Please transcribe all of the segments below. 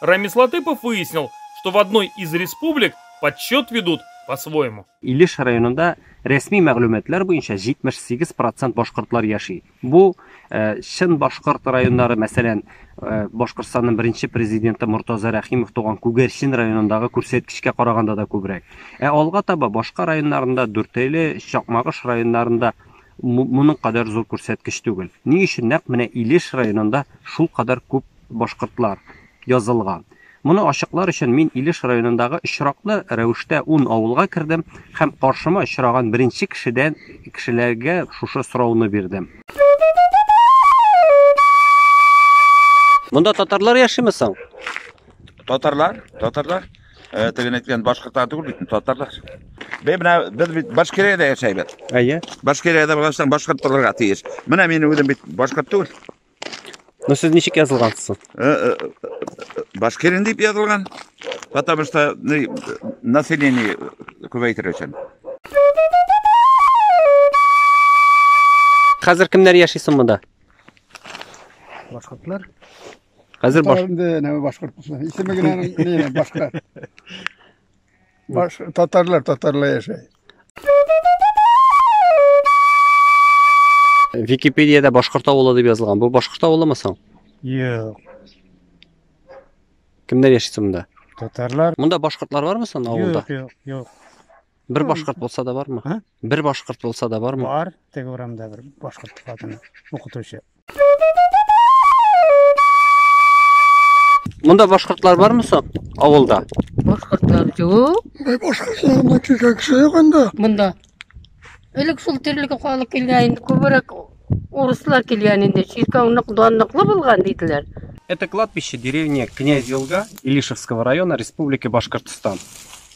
Рамис Латыпов выяснил, что в одной из республик подсчет ведут по-своему. Илеш районында рәсми мәгълүматлар буенча 78 процент башкортлар яши. Бу э, чын башкорт районнары, мәсәлән, э, Башкортстанның беренче президенты Мортаза Рәхимов туган Күгәрчен районындагы күрсәткечкә караганда да күбрәк. Ә алга таба башка районнарында, Дүртәйле, Чакмагыш районнарында моның кадәр зур күрсәткеч түгел. Ни өчен нәкъ менә Илеш районында шул кадәр күп Башкортлар. Язылган. Моны ачыклар өчен мин Илеш районындагы очраклы рәвештә ун авылга кердем һәм каршыма очраган беренче кешедән кешеләргә шушы сорауны бирдем. Монда татарлар яшиме соң? Татарлар, татарлар. Э, Теге әйткән башкортлар түгел бит, татарлар. Бе менә без бит Башкириядә яшәйбез. Әйе. Башкириядә булган соң башкорт булырга тиеш. Менә мин үзем бит башкорт түгел. Ну сез ничек язылгансыз? Э, э, э, Башкирин дип язылган. Потому что население күбәйтер өчен. Хәзер кемнәр яши соң монда? Башкортлар. Хәзер баш... Инде нәме башкорт. Исеме генә башкорт. Башка татарлар татарлар яшәй. Википедиядә башкорт авылы дип язылган. Бу башкорт авылымы соң? Юк. Кемнәр яши соң монда? Татарлар. Монда башкортлар бармы соң авылда? Юк, юк, юк. Бер башкорт булса да бармы? Бер башкорт булса да бармы? Бар, теге урамда бер башкорт хатыны, укытучы. Монда башкортлар бармы соң авылда? Башкортлар юк. Бай башкортлар ма килгән кеше юк анда. Монда. Элек шул тирлек халык килгән инде күбрәк урыслар килгән инде. Чиркәү нык данлыклы булган диделәр. Это кладбище деревни Князь Елга Илишевского района Республики Башкортостан.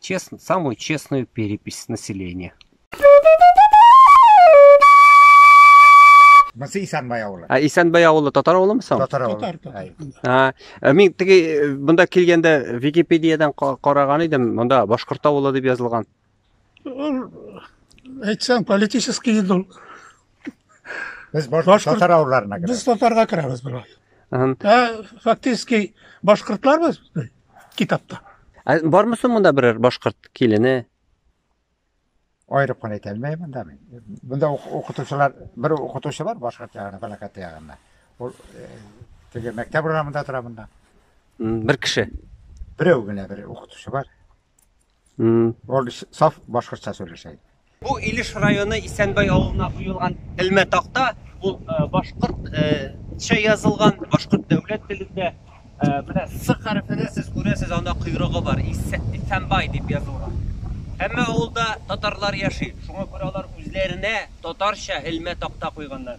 честно, самую честную перепись населения. Монысы Исанбай авылы. А Исанбай авылы татар авылымы соң? Татар авылы. Татар, татар. А, э, мин теге э, монда килгәндә Википедиядан караган идем, монда башкорт авылы дип язылган. Ул әйтсәң политический инде ул. Без башкорт татар авылларына керәбез. Без татарга керәбез була. Ә фактически башкортларбыз. китапта. Ә бармы соң монда берәр башкорт килене? Аерып кына әйтә алмыйм монда мин. Монда укытучылар, бер укытучы бар башкорт ягында, Балакат ягында. Ул э, теге мәктәп урамында тора монда. Бер кеше. Берәү генә бер укытучы бар. Ул саф башкортча сөйләшә. Бу Илеш районы Исәнбай авылына куелган элмә такта, ул башкортча язылган, башкорт дәүләт телендә. Менә С хәрефенә сез күрәсез, анда койрыгы бар, Исәнбай дип язылган. Һәммә авылда татарлар яши, шуңа күрә алар үзләренә татарча элмә такта куйганнар.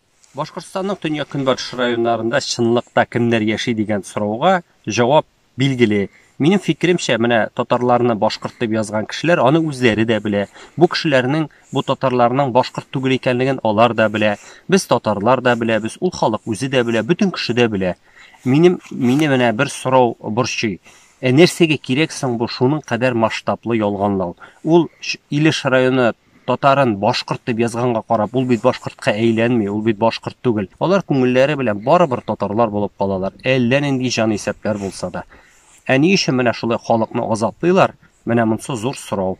Башкортстанның төньяк-көнбатыш районнарында чынлыкта кемнәр яши дигән сорауга җавап билгеле. Минем фикеремчә, менә татарларны башкорт дип язган кешеләр аны үзләре дә белә. Бу кешеләрнең, бу татарларның башкорт түгел икәнлеген алар да белә. Без татарлар да беләбез, ул халык үзе дә белә, бөтен кеше дә белә. Минем, мине менә бер сорау борчый. Ә нәрсәгә кирәк соң бу шуның кадәр масштаблы ялганлау? Ул Илеш районы Татарын башкорт дип язганга карап, ул бит башкортка әйләнми, ул бит башкорт түгел. Алар күңелләре белән барыбер татарлар булып калалар, әллә нинди җан исәпләр булса да. Ә ни өчен менә шулай халыкны азаплыйлар, менә монсы зур сорау.